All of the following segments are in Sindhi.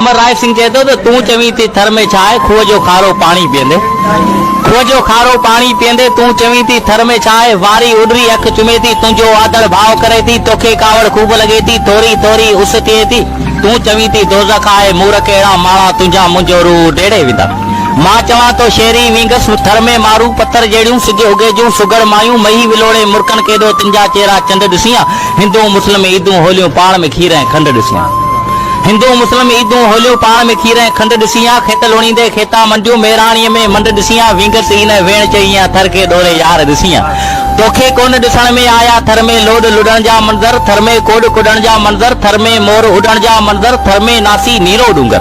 امر رائي سنگهه چئي ٿو ته تون چوين ٿي ٿر ۾ ڇا آهي کوهه جو کارو پاڻي پيئندي کوهه جو کارو پاڻي پيئندي تون چوين ٿي ٿر ۾ ڇا آهي واري اڏري اک چمي ٿي تنهنجو آڌڙ ڀاء ڪري ٿي توکي ڪاوڙ خوب لڳي ٿي ٿوري ٿوري اس ٿئي ٿي تون چوين ٿي دوزخ آهي مورک اهڙا ماڙا تنهنجا منهنجو روح اڊيڙي ويندا مان چوان ٿو شيري وينگس ٿر ۾ مارون پٿر جهڙيون سج اگهي جون سگهڙ مايون مهي ولوڙي مرڪن ڪيڏو تنهنجا چهرا چنڊ ڏسيان هندو مسلم عيدون هوليون پاڻ ۾ کير ۽ کنڊ ڏسيان هندو مسلم عيدون هوليون پاڻ ۾ کير ۽ کنڊ ڏسيان کيت لوڻيندي کيتا منڊيون ميراڻيء ۾ منڊ ڏسيان وينگس ئي نه ويڻ چئيان ٿر کي ڏوري يار ڏسيان توکي ڪونه ڏسڻ ۾ آيا ٿر ۾ لوڏ لڏڻ جا منظر ٿر ۾ ڪوڏ ڪوڏڻ جا منظر ٿر ۾ مور اڏڻ جا منظر ٿر ۾ ناسي نيرو ڏونگر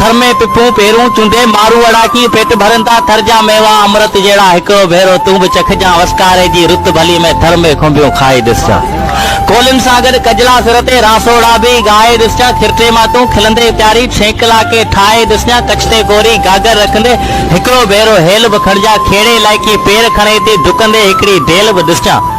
ٿر ۾ پپون پيرون چونڊي مارون اڙاڪي پيٽ ڀرين ٿا ٿر جا ميوا امرت جهڙا هڪڙو ڀيرو تون به چکجان وسڪاري جي رت ڀلي ۾ ٿر ۾ کنڀيون کائي ڏسجان ڪولين سان گڏ ڪجلا سر تي راسوڙا به ڳائي ڏسجان کرٽي مان تون کلندي پياري ڇينڪ لاکي ٺاهي ڏسجان ڪڇ تي ڪوري گاگر رکندي هڪڙو ڀيرو هيل به کڻجان کهڙي لائقي پير کڻي ٿي ڊڪندي هڪڙي ڊيل به ڏسجان.